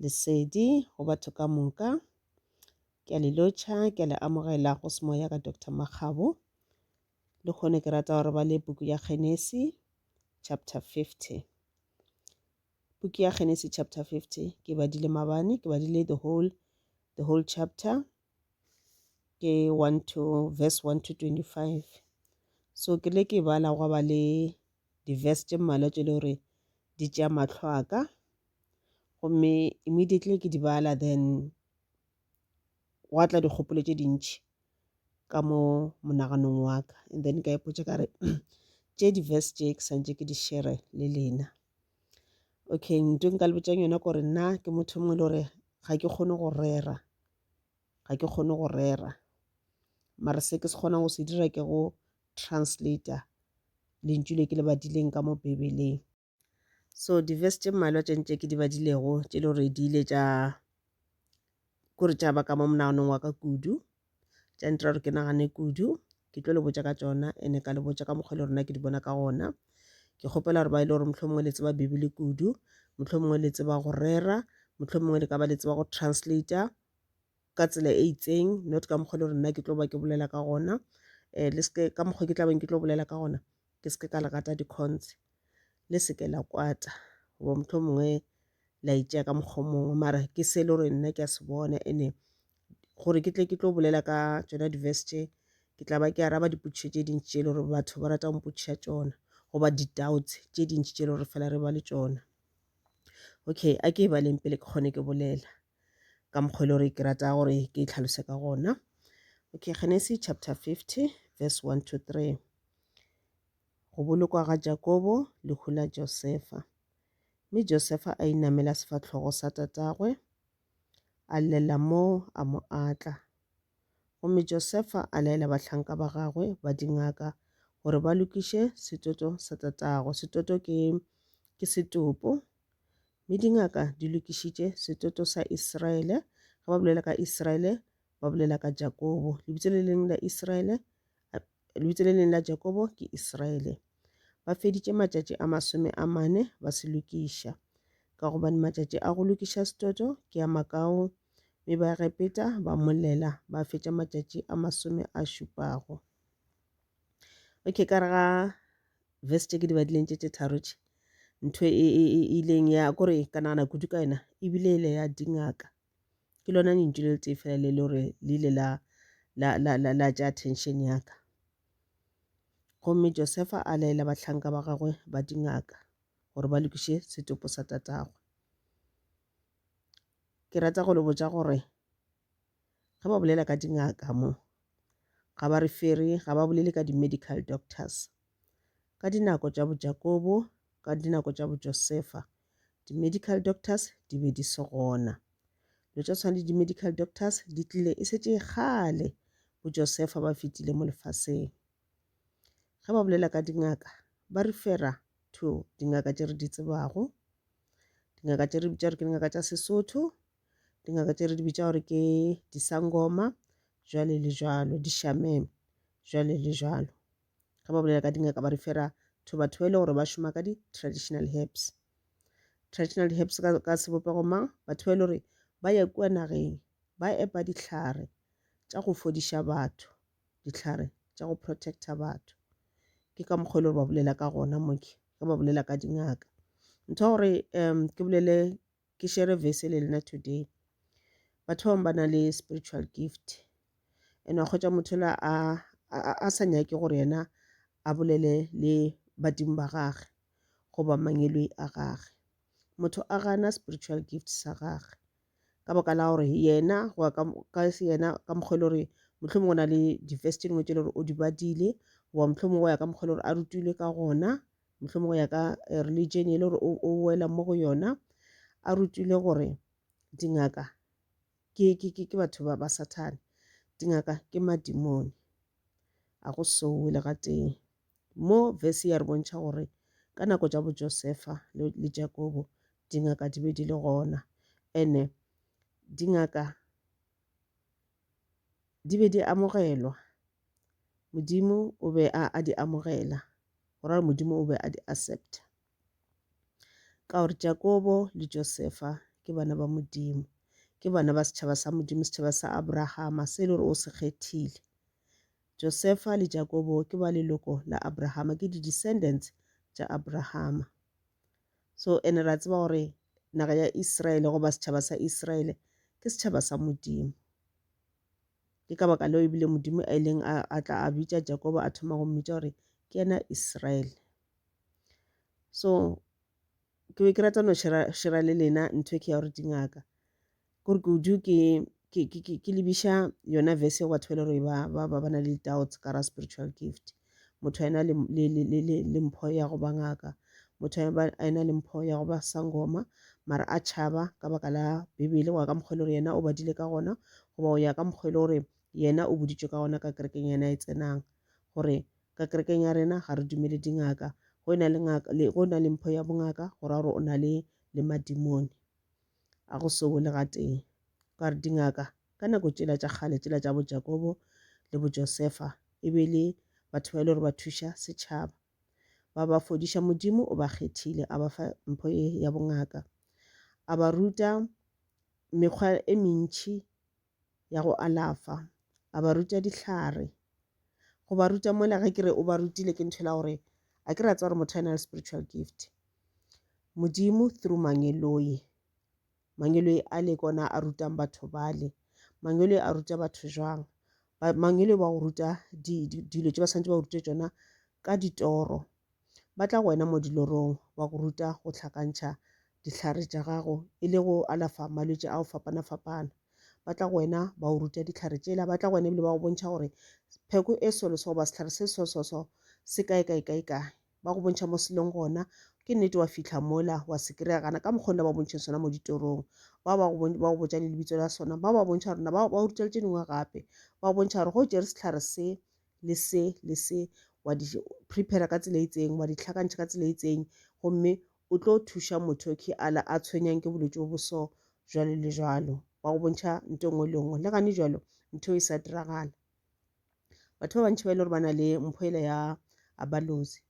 Lesedi go batho ka moka. Ke a le lotšha, ke a le amogela go semoya ka Doctor Makgabo. Le kgone ke rata gore ba le puku ya Genesi chapter 50. Puku ya Genesi chapter 50 ke badile mabane, ke badile the whole, the whole chapter ke 1 to verse 1 to 25 so ke le ke bala gwa ba le di-verse tše mmalwa tše le gore di tšea matlho a ka gomme immediately ke di bala then gwa tla dikgopolo tše dintšhi ka mo monaganong wa ka and then ka ipotša ka re tše di-verse tše ke santše ke di shere le lena okay nto nka le botšang yona gore nna ke motho mongwe le gore ga ke kgone go rera ga ke kgone go rera mara se ke se kgonang go se dira ke go translator lentšu le ke le badileng ka mo bibeleng so di-verse tše mmalwa tše ntše ke di badilego tše le gore di ile tša kore taba ka mo monaganong wa ka kudu tša ntira gore ke nagane kudu ke tlo le botša ka tsona ene ka le botša ka mokgwa le rona ke di bona ka gona ke kgopela gore ba e le gore motlho mongwe le tseba bibele kudu motlho mongwe le tseba go rera motlho mongwe le ka ba le tseba go translator ka tsela e itseng not ka mokgwa le gore nna ke tlo ba ke bolela ka gona um le seke ka mokgwa ke tlabeng ke tlo bolela ka gona ke se ke ka le gata dikgontse le se ke la kwata goba motlho mongwe la itšea ka mokgwa mongwe mara ke se e le gore nna ke a se bona ene gore ke tle ke tlo bolela ka tsona di-verse tše ke tla ba ke araba dipotšišo tše dintši tše e le gore batho ba rata go mpotšiša tšona goba di-doubts tše dintši tše e le gore fela re ba le tšona okay a ke e baleng pele ke kgone ke bolela ka mokgwa e le gore ke rata gore ke e tlhalose ka gona okay genesis chapter 50 verse 1 to 3 Go bolokwa ga Jakobo lehu la Josefa. Mme Josefa a inamela sefahlogo sa tatagwe, a llela moo, a mo atla. Gomme Josefa a laela bahlanka ba gagwe ba dingaka gore ba lokiše setoto sa tatagwe. Setoto ke, ke setopo. Mme dingaka di lokišitše setoto sa Israele. Ge ba bolela ka Israele, ba bolela ka Jakobo. Lebitso le leng la Israele Lebitso le leng la Jakobo ke Israele. Ba feditše matšatši a masome a mane ba se lokiša, ka gobane matšatši a go lokiša setoto ke a makao. Mme ba Egepeta ba molela ba fetša matšatši a masome a šupago. Okay, ka re ga verse tše ke di badileng tše tše tharo tše ntho e, e, e, e ileng ya kore ka nagana kudu ka yona ebile e ile ya dingaka ke lona lentšu le letee fela le le gore le ile la la la la la tša attention ya ka gomme josefa a laela bahlanka ba gagwe ba dingaka gore ba lokiše setopo sa tatagwe ke rata go le botša gore ge ba bolela ka dingaka mo ga ba re fere ga ba bolele ka di-medical doctors Ka dinako tša boJakobo, ka dinako tša boJosefa, di-medical doctors di be di se gona. Lo tša tshwana le di-medical doctors di tlile e šetše kgale boJosefa ba fetile mo lefaseng. Ge ba bolela ka dingaka, ba re fera to dingaka tše re di tsebago, dingaka tše re bitša gore ke dingaka tša Sesotho, dingaka tše re di bitša gore ke disangoma, jwale le jwalo, dishameme, jwale le jwalo. Ge ba bolela ka dingaka ba referra to batho ba e le gore ba šoma ka di-traditional herbs. Traditional herbs ka, ka sebopego mang? Batho ba e le gore ba ya kua nageng ba epa dihlare tša go fodiša batho, dihlare tša go protecta batho. Ke ka mokgwa e le gore ba bolela ka gona mo ke, ge ba bolela ka dingaka. Ntho ya gore um ke bolele ke share verse le lena today batho ba bangwe ba na le spiritual gift and wa kgwetša motho la a a sa nyake gore yena a bolele le badimo ba gage goba mangwelwe a gage motho a gana spiritual gift sa gage ka baka la gore yena go ya ka se yena ka mokgwa e le gore mohlomong o na le di-verse tše dingwe tše le gore o di badile goba mohlomong go ya ka mokgwa e le gore a rutilwe ka gona mohlomong go ya ka eh, religion e le gore o wela mo go yona a rutile gore dingaka ke, ke, ke, ke batho ba, ba sathane dingaka ke madimone a go sowe le ga teng mo verse ya re bontšha gore ka nako tša bojosefa le, le jakobo dingaka di be di le gona ene dingaka di be di amogelwa modimo o be a, a di amogela go ra Modimo o be a di accepta ka gore Jakobo le Josefa ke bana ba Modimo, ke bana ba setšhaba sa Modimo, setšhaba sa Abrahama se e le gore o se kgethile. Josefa le Jakobo ke ba leloko la Abrahama, ke di-descendants tša Abrahama. So ene ra tseba gore naga ya Israele goba setšhaba sa Israele ke setšhaba sa Modimo. Ke ka baka leo ebile Modimo a ileng a, a tla a bitša Jakobo a thoma go mmitša gore ke yena Israele. So ke be ke rata no shera, shera le lena ntho e ke ya gore dingaka kore kudu ke ke, ke, ke, ke lebiša yona verse ya batho ba e le gore ba, ba, ba, ba na le doubts ka ra spiritual gift. motho a ena le, le, le, le, le, le mpho ya go ba ngaka motho a ena le mpho ya go ba sangoma mara a tšhaba ka baka la bibele go ya ka mokgwa e le gore yena o badile ka gona goba go ya ka mokgwa e le gore yena o boditšwe ka gona ka kerekeng yena e tsenang gore ka kerekeng ya rena ga re dumele dingaka go e na le, ngaka, le, go e na le mpho ya bongaka go ra gore o na le, le madimone A go se wele gatee. O ka re dingaka ka nako tšela tša kgale tšela tša bo Jakobo le bo Josefa e be le batho ba e le gore ba thuša setšhaba. Ba ba fodiša Modimo o ba kgethile a ba fa mpho e ya bongaka. A ba ruta mekgwa e mentši ya go alafa, a ba ruta dihlare. Go ba ruta mola ge ke re o ba rutile ke ntho e la gore a ke re a tseba gore motho a na le spiritual gift. Modimo through Mangeloi, Mangeloi a le ke ona a rutang batho bale. Mangeloi a ruta batho jwang? Mangeloi wa go ruta dilo tse ba swanetše ba go rute tšona ka ditoro Ba tla go wena mo dilorong ba go ruta go hlakantšha dihlare tša gago e le go alafa malwetši ao fapana-fapana. Ba tla go wena ba o ruta dihlare tšela, ba tla go wena ebile ba go bontšha gore pheko e solo so goba sehlare se so so so se kae kae kae kae. Ba go bontšha mo se leng gona, ke nnete wa fitlha mola wa se kry-a gana ka mokgo ne ba go bontšheng sona mo ditorong. Bao ba go ba go botša le lebitso la sona, bao ba bontšha gore na ba ba ruta le tše dingwe gape. Ba go bontšha gore ge o tšere sehlare se, le se le se wa di prepare ka tsela e itseng wa di tlhakantšha ka tsela e itseng gomme o tlo thuša motho ke ala a tshwenyang ke bolwetse bo boso jalo le jalo wa go bontšha nto nngwe le nngwe le gane jalo ntho e sa diragala batho ba bantšhi ba e le gore ba na le mpho ela ya abalozi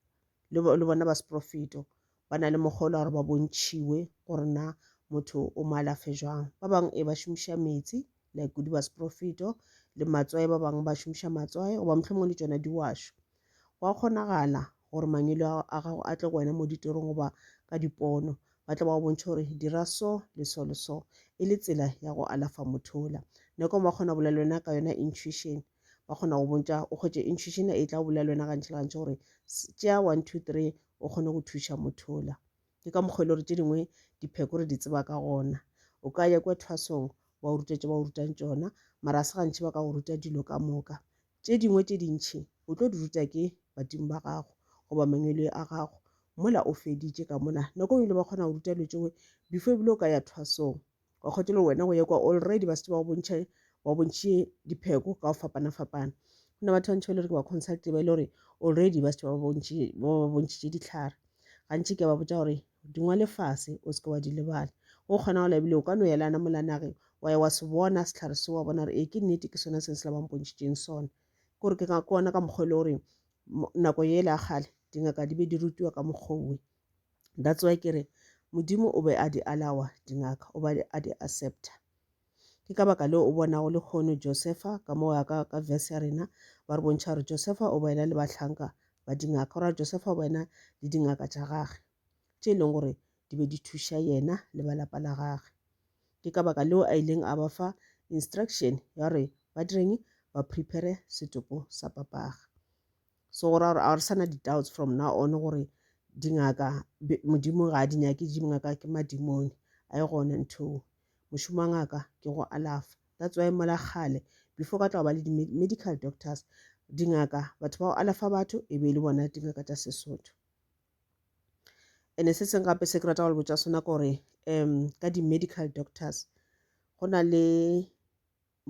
le bona ba seprofeto ba na le mokgwa o la gore ba bontšhiwe gore na motho o mo alafe jwang ba bangwe e ba šomiša metsi like kudu ba seprofeto le matswae ba bangwe ba šomiša matswae goba mohlomong le tšona diwašo go a kgonagala gore mangwele a gago a tle go wena mo ditorong goba ka dipono ba tla ba go bontšha gore dira so le so le so e le tsela ya go alafa mothola nako ba kgona bolela wena ka yona intuition ba kgona go bontša o kgwetše intuition e tla bolela wena gantši le gantši gore tšea one two three o kgone go thuša mothola ke ka mokgwa e le gore tše dingwe dipheko re di tseba ka gona o ka ya kwa thwasong ba o ruta tše ba o rutang tšona mara se gantši ba ka go ruta dilo ka moka tše dingwe tše dintšhi o tlo di ruta ke badimo ba gago goba mangwele a gago mola o feditše ka mola nako e ngwe le ba kgona go ruta dilo tšeo before ebile o ka ya thwasong wa kgotho le wena go ye kwa already ba setse ba go bontšha ba go bontšhe dipheko ka go fapana-fapana go na batho ba ntšhi ba le gore ke ba consulti ba e le gore already ba setse ba ba bontšhitše ditlhare gantši ke ba botsa gore dingwa lefase o seke wa di lebala o kgona go lebile o ka no yelana molanage wa ya wa se bona setlhare se wa bona gore ee ke nnete ke sone seng se la bampontšhitšeng sone ke gore ke kona ka mokgwa e le gore nako yele a kgale dingaka di be di rutiwa ka mokgwa owe that's why ke re modimo o be a di alawa dingaka o be a di accepta ke ka baka leo o bonago le kgono josefa ka moo ya ka ka verse ya rena ba re bontšha gore josefa o boena le bahlanka ba dingaka gore josefa o boena le dingaka tša gage tše e leng gore di be di thuša yena le ba lapa la gage ke ka baka leo a ileng a ba fa instruction ya gore ba direng ba prepare setopo sa papaga so go ra gore a re sana di-doubts from now on gore dingaka modimo ga a di nyake dingaka ke madimone a e gone ntho mošomo wa ngaka ke go alafa that's why mola kgale before ka tla ba le di-medical doctors dingaka batho ba go alafa batho e be e le bona dingaka tša sesotho ene se seng gape se ke rata go le botsa sona ke gore um ka di-medical doctors go na le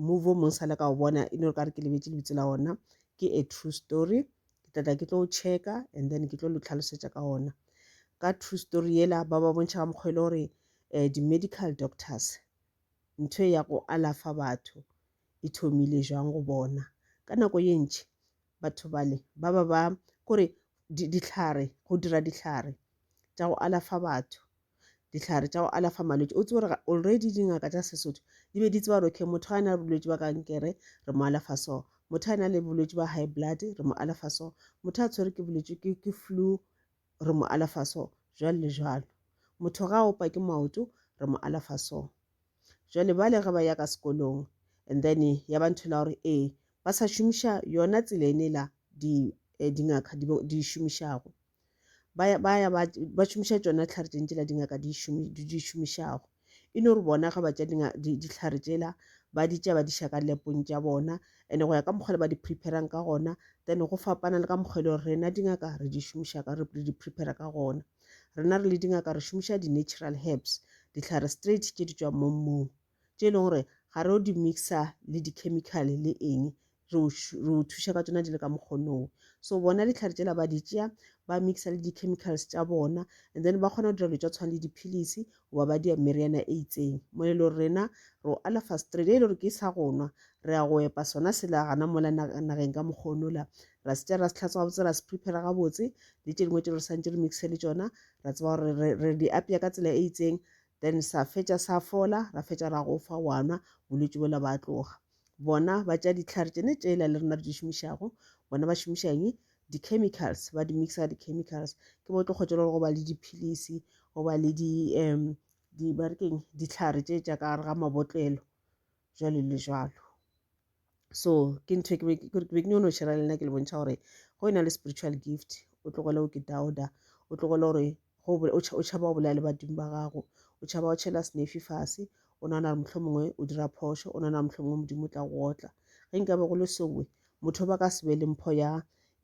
movie o mong sa le ka o bona e no ka re ke lebetse lebitso la ona ke a true story ke tlatla ke tlo o checka and then ke tlo lo tlhalosetša ka ona ka true story yela ba ba bontšha ka mokgwa e le gore um di-medical doctors ntho e ya go alafa batho e thomile jwang go bona ka nako ye ntši batho bale ba ba ba kore dihlare go dira dihlare tša go alafa batho dihlare tša go alafa malwetse o tsebe gore already dingaka tša sesotho di be di tseba gore okay motho ga a na le bolwetse ba kankere re mo alafa so motho a na le bolwetse ba high blood re mo alafa so motho a tshwere ke bolwetse ke flu re mo alafa so, jwalo le jwalo. Motho ga a opa ke maoto, re mo alafa so. Jwale bale ge ba ya ka sekolong, and then ya ba ntho la gore ee, ba sa šomiša yona tsela ene la di eh, dingaka di, di šomišago ba ya ba, ya ba, ba šomiša tšona tlhare tšentši la dingaka di, šomi, di šomišago e no re bona ga ba tša dihlare tšela ba di tša ba di ša ka lepong tša bona and go ya ka mokgwa le ba di preparang ka gona then go fapana le ka mokgwa e le gore rena dingaka re di šomiša ka re di prepare ka gona rena re le dingaka re šomiša di-natural herbs dihlare straight tše di tswang mo mmung tše e leng gore ga re o di mixa le di-chemical le eng re o, re o thuša ka tsona di le ka mokgonong so bona dihlare tsela ba di tšea ba mixa le di-chemicals tša bona and then ba kgona go dira dilo tša tshwana le diphilisi goba ba dia meriana e itseng mo e le gore rena re o alafa straight e le gore ke sa go nwa re ya go epa sona sela gana mola nageng ka mokgono la ra se tša ra se tlhatsa gabotse ra se prepare gabotse le tše dingwe tše re santse re mixe le tsona ra tseba gore re di apea ka tsela e itseng then sa fetša sa fola ra fetša ra go fa wa nwa bolwetse bola ba tloga bona ba tša dihlare tšene tšela le rena re di šomišago bona ba šomiša eng di-chemicals ba di mixa di-chemicals ke bo tlo kgotšela gore go ba le diphilisi go ba le di um di ba re keng dihlare tše tša ka gare ga mabotlelo jwalo le jwalo so ke ntho e ke be ke nyone go šera le nna ke le bontšha gore go e na le spiritual gift o tlogele o ke dauda o tlogele gore go o tšhaba go bolela le badimo ba gago o tšhaba go tšhela senefi fase o nagana gore motlho mongwe o dira phošo o nagana motlho mongwe modimo o tla go otla ge nkabe go le sowe motho ba ka se be le mpho ya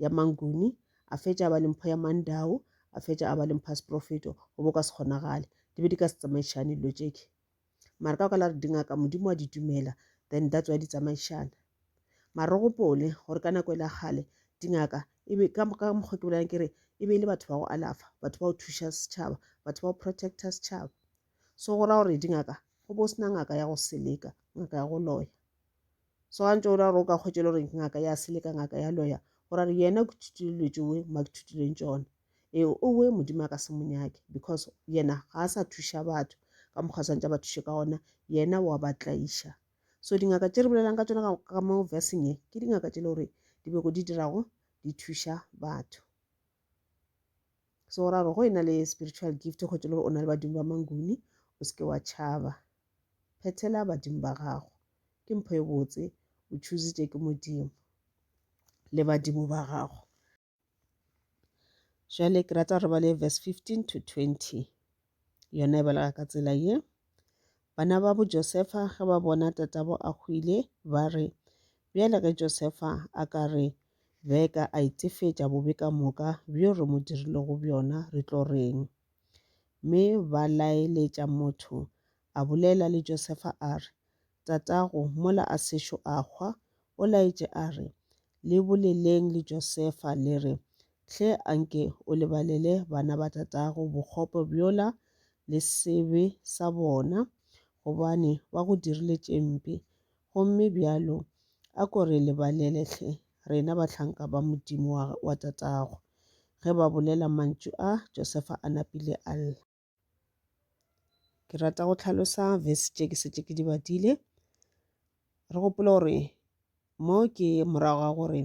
ya manguni a fetša a ba le mpho ya mandao a fetša a ba le mpho ya seprofeto go bo ka se kgonagale di be di ka se tsamaišane dilo tšeke mara ka okala re dingaka modimo wa di dumela then that's why di tsamaišana mara re gopole gore ka nako e la kgale dingaka e ka mokgwa ke bolelang ke re e be e le batho ba go alafa batho ba go thuša setšhaba batho ba go protecta setšhaba so go ra gore dingaka go bo sena ngaka ya go seleka ngaka ya go loya Swantšo o ra gore o ka hwetšela gore ngaka ya sele ka ngaka ya loya go ra re yena ke thutile dilo tšewe ma ke thutileng tšona ee owe modimo a ka se monyake because yena ga a sa thuša batho ka mokgwa swantša ba thuše ka ona yena wa ba tlaiša so dingaka tše re bolelang ka tsona ka mo versing e ke dingaka tše le gore dibeko di dirago di thuša batho so o ra gore go e na le spiritual gift go tse le gore o na le badimo ba manguni o seke wa tšhaba phethela badimo ba gago ke mpho e botse o choositše ke modimo le badimo ba gago jale ke rata gore ba le verse 15 to 20 Yona e belega ka tsela ye. Bana ba bo Josefa ge ba bona tatabo a hwile, ba re, Bjale ge Josefa a ka re beka a itefetša bobe ka moka bjo re mo dirilego bjona, re tlo reng? Mme ba laeletša motho a bolela le Josefa a re, Tatago, mola a sešo a hwa, o laetše a re, Le boleleng le Josefa, le re, Hle a nke o lebalele bana ba tatago bokgopo bjola le sebe sa bona, gobane ba go dirile tše mpe. Gomme bjalo a ko re lebalele hle, rena bahlanka ba Modimo wa tatago. Ge ba bolela mantšu a, Josefa a napile a lla. Ke rata go tlhalosa verse tše ke šetše ke di badile. Re gopole gore mo ke morago ga gore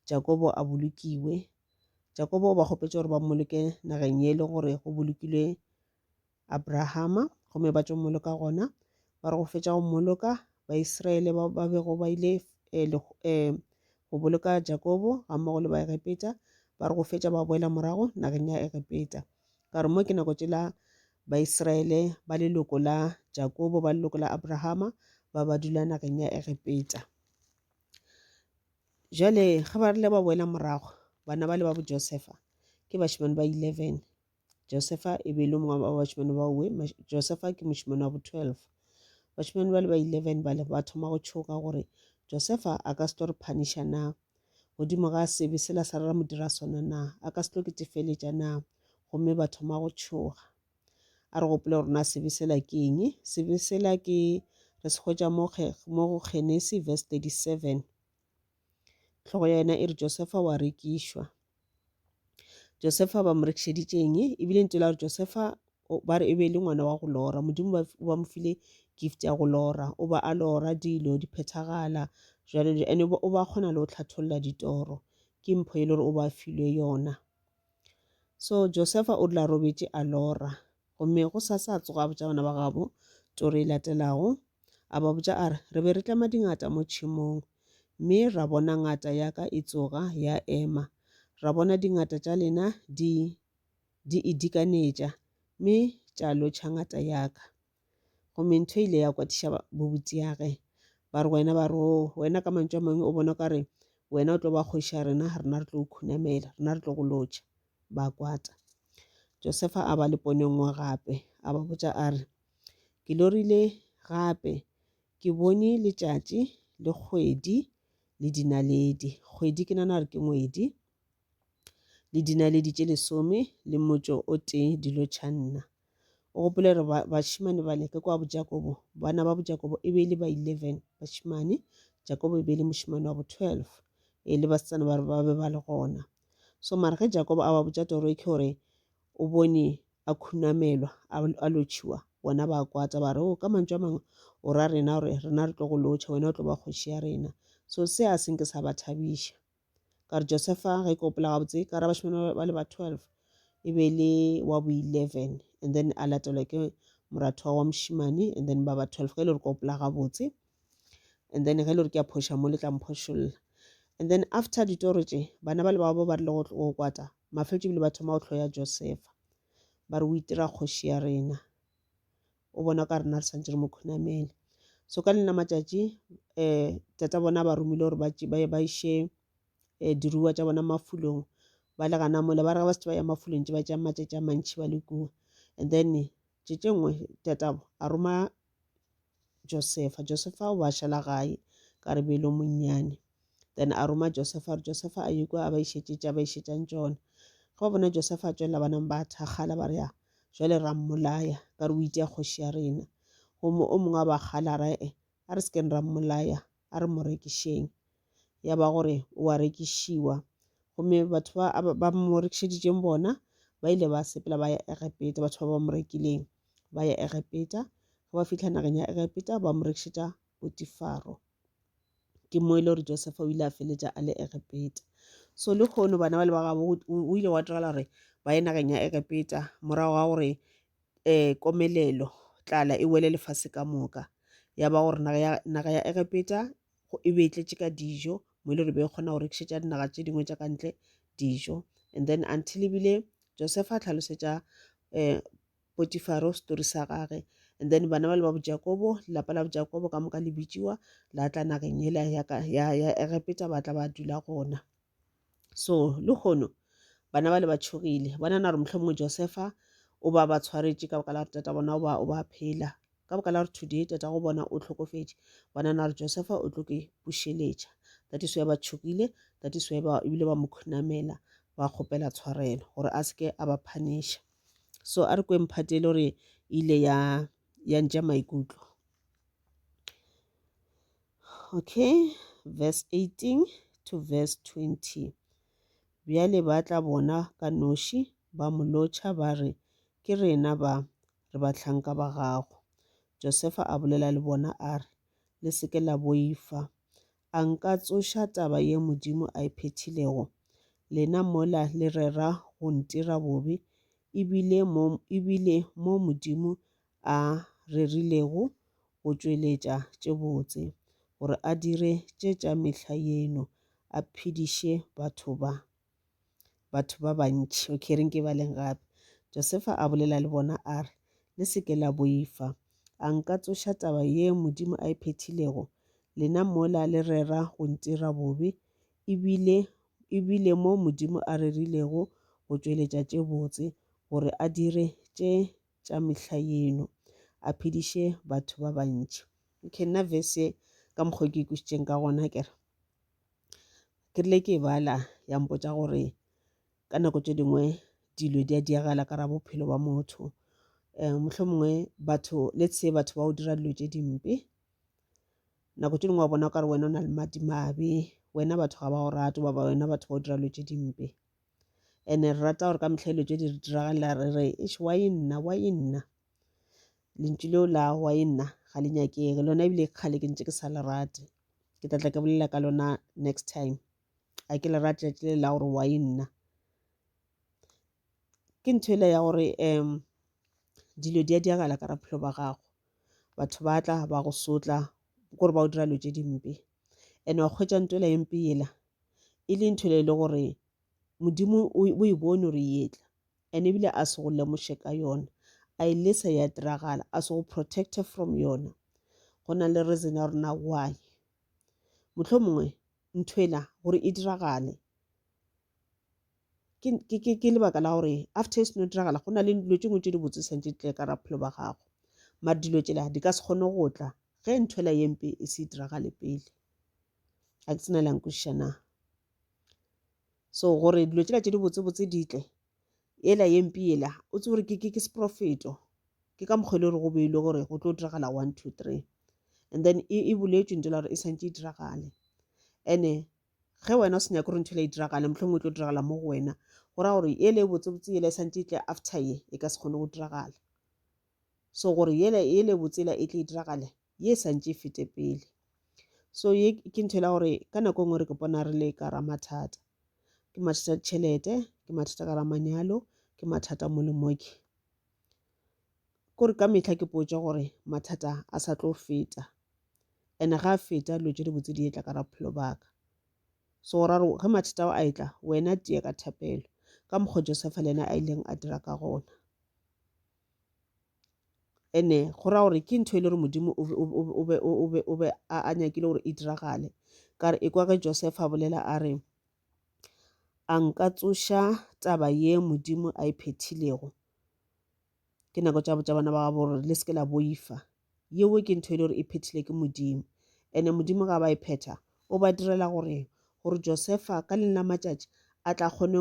Jakobo a bolokiwe. Jakobo o ba kgopetše gore ba mmoloke nageng ye e le gore go bolokilwe Abrahama gomme ba tšo mmoloka gona. Ba re go fetša go mmoloka Baisraele ba ba bego ba ile eh, eh, go boloka Jakobo ga mmogo le ba Egepeta ba re go fetša ba boela morago nageng ya Egepeta. Ka re mo ke nako tšela Baisraele ba leloko la Jakobo, ba leloko la Abrahama, ba ba dula nageng ya Egepeta. Jale ge ba rile ba boela morago, bana ba le ba bo Josefa ke bašemane ba eleven. Josefa e be e le mongwe wa bašemane ba uwe, Josefa ke mošemane wa bo twelve. Bašemane ba le ba eleven ba le ba thoma go tšhoga gore Josefa a ka se tlo re phaniša na. Godimo ga sebe sela sa rera modira sona na? A ka se tlo ketefeletša na? Gomme ba thoma go tšhoga. A re gopole gore na sebe sela ke eng. Sebe sela ke re se hwetša mo go Genesi verse 37. Tlhogo ya yena e re Josefa wa rekišwa. Josefa ba mo rekišeditše eng? E bile ntse la gore Josefa ba re e be e le ngwana wa go lora. Modimo ba, ba mo file gift ya go lora. O ba a lora dilo, di phethagala, jalo jalo. And o ba kgona le go tlhatholla ditoro. Ke mpho e le gore o ba filwe yona. So Josefa o la robetše a lora. Gomme gosasa a tsoga a botša bana ba gabo toro e latelago. A ba botša a re, Re be re tlema dingata mo tšhemong, mme ra bona ngata ya ka e tsoga ya ema. Ra bona dingata tša lena di, di e dikanetša, mme tša lotšha ngata ya ka. Gomme ntho e ile ya kwatiša bobutiage. Ba re wena, ba re, oo, wena ka mantšu a mangwe o bona o ka re wena o tlo ba kgoši ya rena, rena re tlo o khunamela, rena re tlo go lotšha. ba kwata. Josefa a ba le pono nngwe gape, a ba botša a re, Ke lorile gape, ke bone letšatši le kgwedi le dinaledi. Kgwedi ke nana gore ke ngwedi le dinaledi tše lesome le motšo o tee dilo tšha nna. O gopole gore bašemane ba leke kwa bojakobo, bana ba bojakobo e be e le ba eleven bašemane, Jakobo e be e le mošemane wa bo twelve e le basetsana ba ba be ba le gona. So mara ge Jakobo a ba botša toro e ke gore o bone a khunamelwa a lotšhiwa bona ba kwata ba re o oh, ka mantšu a mangwe o ra rena gore rena re tlo go lotšha wena o tlo ba kgoši ya rena so se a senke sa ba thabiša ka re josefa ge ke opela gabotse ka ra bašemane ba le ba twelve e be le wa bo eleven and then a latelwa ke moratho wa mošimane and then ba ba twelve ge e le gore ke opela gabotse and then ge le gore ke a phoša mo le tla mphošolla and then after ditoro tše bana ba le bao ba ba rile go kwata mafeletše ebile ba thoma go tlhoya josefa ba re o itira kgoši ya rena o bona ka rena re santse re mo khunamele so ka lena matšatši um tata bona ba romile gore ba iše um diruiwa tša bona mafulong ba le gana mole ba re ga ba se ba ya mafulong tše ba tšea matšatši a mantšhi ba le kua and then tše tše nngwe tatabo a roma Josefa. Josefa o ba šala gae ka re belo monnyane. Then a roma Josefa gore Josefa a ye kwa a ba išetše tša ba išetšang tšona. Ge ba bona Josefa a tšwelela banang ba thakgala ba re ya jwale ra mmolaya ka re o itea kgoši ya rena. Gomme o mongwe a ba kgala ra e a re se keng ra mmolaya a re mo rekišeng. ya ba gore o a rekišiwa gomme batho ba ba mo rekišeditšeng bona ba ile ba sepela ba ya egepeta batho ba ba mo rekileng ba ya egepeta ge ba fitlha nageng ya egepeta ba mo rekišetša potifaro ke mo e le gore josefa o ile a feletša a le egepeta so le kgono bana ba le ba gabo o ile wa diragala gore ba ye nageng ya egepeta morago ga gore um komelelo tlala e wele lefase ka moka ya ba gore naga ya egepeta go e be e tletše ka dijo mo e le gore be e kgona go rekišetša dinaga tše dingwe tša ka ntle dijo and then until ebile josefa a tlhalosetša um potifaro story sa gage and then bana ba le ba bojakobo lelapa la bojakobo ka moka le bitšiwa la tla nageng ela ya egepeta ba tla ba dula gona so le kgono bana ba le ba tšhogile ba nana gore mohlomongwe josefa o ba ba tshwaretše ka baka la gore tata bona o ba o ba phela ka baka la gore today tata go bona o tlhokofetše ba nana gore josefa o tlo ke bušeletša that is why ba tšhogile that is why ba ebile ba mo khunamela ba kgopela tshwarelo gore a seke a ba phanisha so a re kweng phate e le gore e ile ya ya ntša maikutlo Okay, verse 18 to verse 20. Bjale ba tla bona ka noši ba mo lotšha ba re, Ke rena ba, re bahlanka ba gago. Josefa a bolela le bona a re, Le se ke la boifa. A nka tsoša taba ye Modimo a e phethilego? Lena mola le rera go ntira bobe, ebile mo, ebile mo Modimo a rerilego go tšweletša tše botse, gore a dire tše tša mehla yeno, a phediše batho ba batho ba bantši. Okay, re nke baleng gape. Josefa a bolela le bona a re, Le se ke la boifa. A nka tsoša taba ye Modimo a e phethilego? Lena mola le rera go ntira bobe, ebile ebile mo Modimo a rerilego go tšweletša tše botse, gore a dire tše tša mehla yeno, a phediše batho ba bantši. Okay, nna verse ye ka mokgwa ke ikwešišitšeng ka gona ke re ke rile ke e bala ya mpotša gore ka nako tše dingwe dilo di a diagala ka ra bophelo ba motho um eh, mohlho mongwe batho let's say batho ba o dira dilo tše dimpe nako tše dingwe wa bona o kare wena o na le madimabe wena batho ga ba go rate baba wena batho ba o dira dilo tše dimpe ene re rata gore ka mehla dilo tse di re diragale la re re eš wa e nna wa e nna lentšu leo la wa e nna ga le nyakege lona ebile kgale ke ntse ke sa le rate ke tlatla ke bolela ka lona next time a ke le rate letšatši le la gore wa e nna ke ntho ele ya gore um dilo di a diagala ka ra bophelo ba gago batho ba tla ba go sotla kore ba o dira dilo tse dimpe and wa kgwetša ntola e mpe yela e le ntho e le gore modimo o e bone gore yetla and ebile a se go lemoše ka yona a e lesa ya diragala a se go protecte from yona go na le reason ya rona why mohlomongwe nthwela gore e diragale Ke, ke, ke, ke lebaka la gore after e seno diragala go na le dilo tše ngwe tše di botse santše di tle ka raphelo ba gago mare dilo tšela di ka se kgone go tla ge nthwela ye mpe e se diragale pele ga ke tsena le yankwešiša na so gore dilo tšela tše di botsebotse di tle ela ye mpe ela o tse gore ke, ke, ke seprofeto ke ka mokgwa e le gore go beilwe gore go tlo diragala one two three and then e, e boletšwe ntle la gore e santše e diragale ene ge wena o se nyake gore ntho ele e diragale mohlomongwe e tlo diragala mo go wena go raya gore ele e botsebotse ele e santse e tle after ye e ka se kgone go diragala so gore ele e botsela e tle e diragale ye e santse e fete pele so ye ke ntho e la gore ka nako e nngwe re ke bona re le ka ra mathata ke mathata ditšhelete ke mathata ka ra manyalo ke mathata mo le moke Ke gore ka mehla ke potša gore mathata a sa tlo feta and ga a feta dilo tše dibotse di etla ka ra bophelo baka so ra re ge mathata ao a etla wena teye ka thapelo ka mokgwa josefa le ena a ileng a dira ka gona ene go raya gore ke ntho e le gore modimo o be a nyakile gore e diragale ka re e kwa ge josefa a bolela a re A nka tsoša taba ye Modimo a e phethilego? Ke nako tša botša bana ba gabo gore le seke la boifa. Yeo ke ntho e le gore e phethile ke Modimo. Ene Modimo ga ba e phetha, o ba direla gore gore Josefa ka leng la matšatši a tla kgone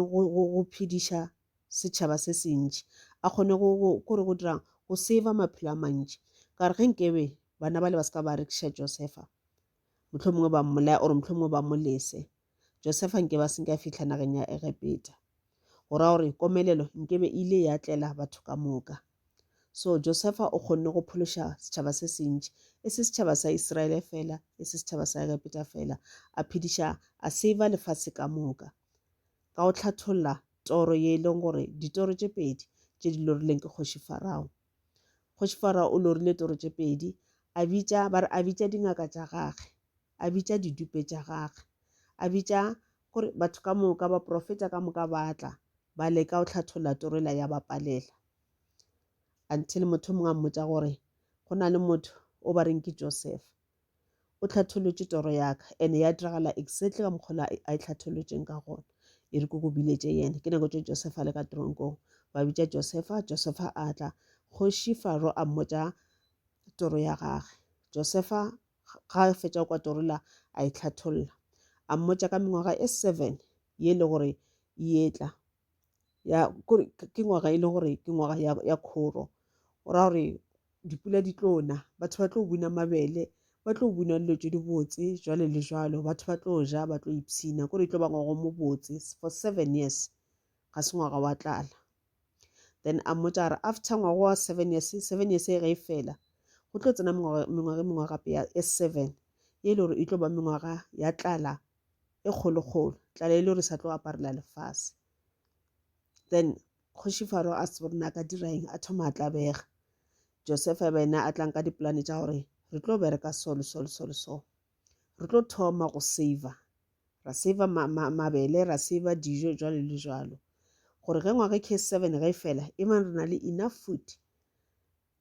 go phediša setšhaba se se ntši a kgone go gore go dirang go save maphelo a mantši ka re ge nkebe bana bale ba se ka ba rekiša Josefa mohlomongwe ba mmolaya or mohlomongwe ba molese Josefa nke ba se nka fihla nageng ya Egepeta. Go ra gore komelelo nke be ile ya tlela batho ka moka. So Josefa o kgonne go phološa setšhaba se sentši, e se setšhaba sa Israele fela, e se setšhaba sa Egepeta fela, a phediša a seiva lefase ka moka. Ka go tlhatholla toro ye e leng gore ditoro tše pedi tše di lorileng ke kgoši Farao. Kgoši Farao o lorile toro tše pedi, a bitša, ba re a bitša dingaka tša gage. a bitša didupe tša gage, a bitša gore batho ka moka, baprofeta ka moka ba tla, ba leka go hlatholla toro ela ya ba palela. Until motho o mongwe a mmotša gore go na le motho o ba reng ke Joseph, o hlathollotše toro ya ka and ya diragala exactly ka mokgwa a e hlathollotšeng ka gona. E re ko ko biletše yena, ke nako tše Joseph a le ka teronkong, ba bitša Joseph, Joseph a tla, kgoši Faro a mmotša toro ya gage. Joseph ga a fetša go kwa Torula a e hlatholla. A mmotša ka mengwaga e seven ye e le gore e etla ya kore ke ngwaga e le gore ke ngwaga ya, ya khoro o ra gore dipula di tlo na batho ba tlo buna mabele ba tlo buna dilo tse di botse jwale le jwalo batho ba tlo ja ba tlo ipshina kore e tlo ba ngwago mo botse for seven years ga se ngwaga wa tlala then a mmotsa a re after ngwaga wa seven years seven years e ge e fela go tlo tsena mengwaga e mengwe gape ya e seven e le gore e tlo ba mengwaga ya tlala e kgolokgolo tlala e le gore sa tlo aparela lefase then kgoši faro a se gore na ka dira eng a thoma a tlabega josefa e ba ena a tlang ka dipolane tša gore re tlo bereka so le so le so le so Re tlo thoma go saver, ra saver ma, ma, mabele, ra saver dijo, jwalo le jwalo. Gore ge ngwaga ke seven ge e fela, e bang re na le enough food.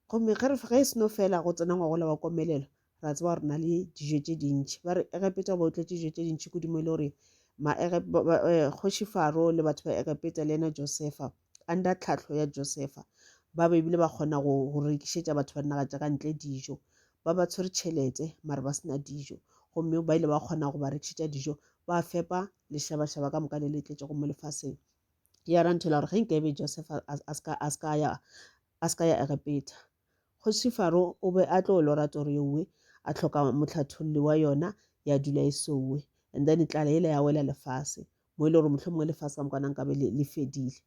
Gomme ge ge e seno fela go tsena ngwaga ola wa komelelo, ra tseba gore na le dijo tše dintšhi. Ba re Egepeta ba otletse dijo tše dintšhi kudu mo e le gore ma eh, kgoši Faro le batho ba Egepeta le yena Josefa under tlhahlo ya Josefa ba be bile ba kgona go rekišetša batho ba dinaga tša ka ntle dijo ba ba tshwere tšhelete mare ba sena dijo gomme ba ile ba kgona go ba rekišetša dijo ba fepa lešabašaba ka moka le le tletšego mo lefaseng ya ra nthela gore ge nke ebe joseph a se ka ya egepeta kgoši faro o be a tlo lora toro yeowe a tlhoka motlhatholli wa yona ya dula e souwe and then tlala ele ya wela lefase mo e le gore mohlomongwe lefase ka mokwana nkabe le, le fedile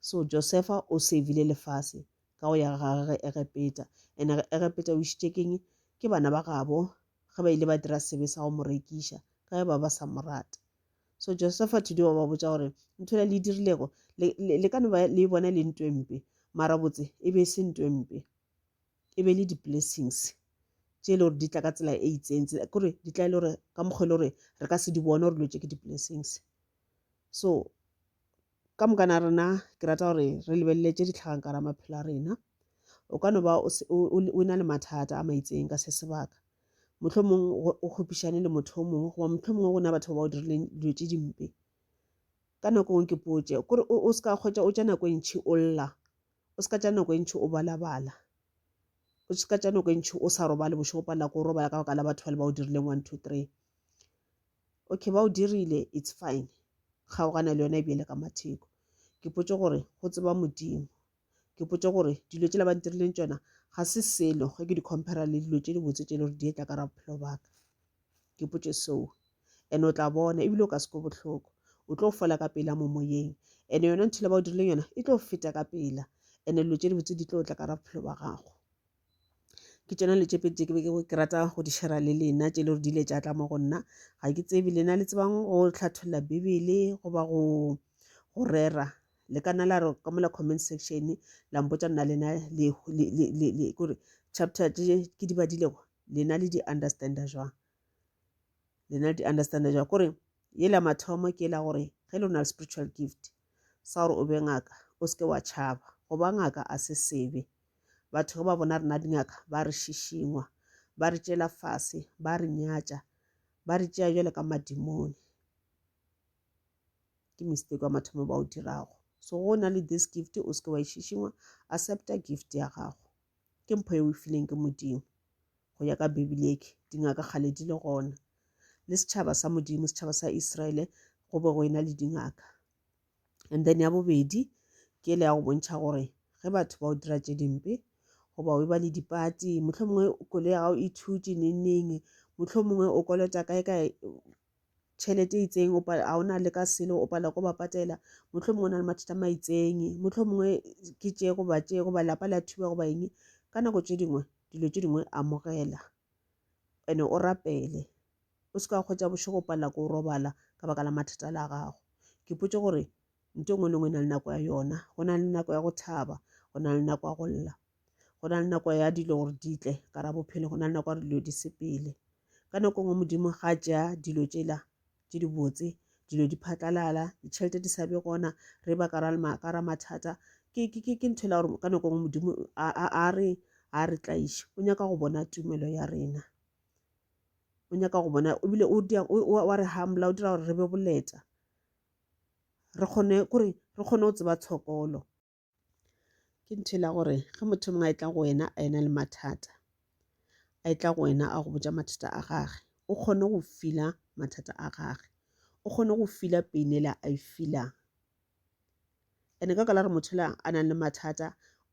so josefa o savile lefase ka go ya ga gage egepeta and egepeta o išitše keng ke bana ba gabo ge ba ile ba dira sebe sa go mo rekiša ka ge ba ba sa mo rata so josefa today wa ba botša gore nthola le dirilego le ka no ba le e bona e le ntwempe mara botse e be e se ntwempe e be le di-blessings tše e le gore di tla ka tsela e itseng kore di tla e le gore ka mokgwa e le gore re ka se di bone gore dilo tše ke di-blessings so ka mokana a rena ke rata gore re lebelele tše di tlhagang ka ra maphelo a rena o ka no ba o na le mathata a maitseng ka se sebaka motlho mongwe o kgopišane le motho o mongwe goba motlho mongwe gona batho ba ba o dirileng dilo tše dimpe ka nako ngwe ke potše kore o se ka kgwetsa o tša nako e ntšhi o lla O se ka tša nako e ntši o balabala. O se ka tša nako e ntši o sa robale bošego palela ko robala ka baka la batho ba le ba o dirileng one two three okay ba o dirile it's fine kgaogana le yona e bjele ka matheko ke potše gore go tseba modimo ke potše gore dilo tšela ba ntirileng tsona ga se selo ge ke di compara le dilo tše dibotse tše e le gore di etla ka ra bophelo baka ke potše seo ene o tla bona ebile o ka seko bohloko o tlo fola ka pela mo moyeng ene yona ntho le ba o dirileng yona e tlo feta ka pela ene dilo tše dibotse di tlo tla ka ra bophelo ba gago ke tsona le tšepedi tše ke be ke rata go di shera le lena tše le gore di ile tša tla mo go nna ga ke tsebe lena le tsebang go tlhatholla bibele goba go go rera le ka nna la re ka mola comment section la mpotsa nna lena kore chapter tše ke di badilego lena le di understanda jwang lena le di understanda jwang kore ye la mathomo ke la gore ge le na le spiritual gift sa gore o be ngaka o seke wa tšhaba go ba ngaka a se sebe batho ge ba bona rena dingaka ba re šišingwa ba re tšela fase ba re nyatša ba re tšea jale ka madimone ke mistake wa mathomo ba o dirago so go na le this gift o seke wa e šišingwa accepta gift ya gago ke mpho e o e fileng ke modimo go ya ka bibele eke dingaka kgale di le gona le setšhaba sa modimo setšhaba sa israele go be go ena le dingaka and then ya bobedi ke le ya go bontšha gore ge batho ba o dira tše dimpe goba o e ba le dipati mohlho mongwe kole ya gago e thutše nengneng mohlho mongwe o kolota kae kae tšhelete e itseng ga o na le ka selo o palelwa ko ba patela motlho mongwe o na le mathata ma itseng motlho mongwe ke tše goba tše goba lapa la thuba goba eng ka nako tše dingwe dilo tše dingwe amogela ene o rapele o se ka kgwetsa bošego o palela ko robala ka baka la mathata la gago ke potse gore nto nngwe le nngwe e na le nako ya yona go na le nako ya go thaba go na le nako ya go lla go na le nako ya dilo gore di tle ka ra bophelo go na le nako ya dilo di sepele ka nako e nngwe modimo ga ja dilo tšela tše di botse dilo di phatlalala ditšhelete di sa be gona re ba ka ra mathata ke ntho ela gore ka nako e nngwe modimo a re a re tlaiše o nyaka go bona tumelo ya rena o nyaka go bona ebile wa re hambola o dira gore re be boleta re kgone kore re kgone go tseba tshokolo. Ke ntho ela gore ge motho mongwe a etla go wena a ena le mathata, a etla go wena a go botša mathata a gage, o kgone go feel-a mathata a gage, o kgone go feel-a pain ela a e feel-ang. And-e ka baka la gore motho ela a nang le mathata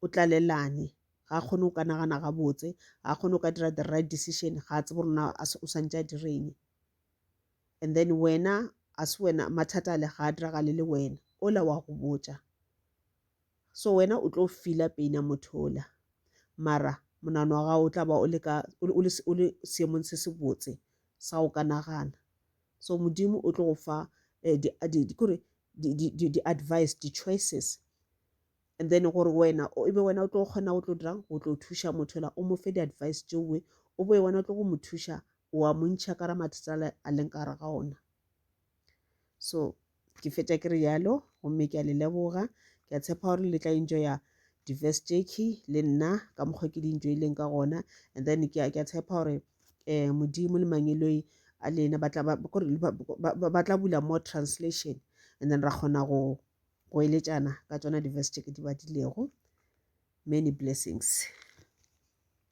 o tlalellane, ga a kgone go ka nagana gabotse, ga a kgone go ka dira the right decision, ga a tsebe gore na o swantše a dire eng. and then wena a se wena mathata a le ga a diragale le wena ola wa go botša so wena o tlo fila pain ya motho ola mara monano wa gago o tla ba o le ka o le seemong se se botse sa go ka nagana so modimo o tlo go fa eh, di, di, di, kore di-advice di-choices and then gore wena e be wena o tlo kgona go tlo dirang go tlo thuša motho la o mo fe di-advice tšeoe o boe wena o tlo go mo thuša o a mo ntšha ka ra mathata a leng ka gare ga ona so ke fetša ke re yalo gomme ke a le leboga ke a tshepa gore le tla enjoya diverse jacki le nna ka mokgwa ke di enjoyleng ka gona and then ke a tshepa gore um modimo le mangeloi a lena ba tla bula more translation and then ra kgona go go eletšana ka tsona diverse jacki di badilego many blessings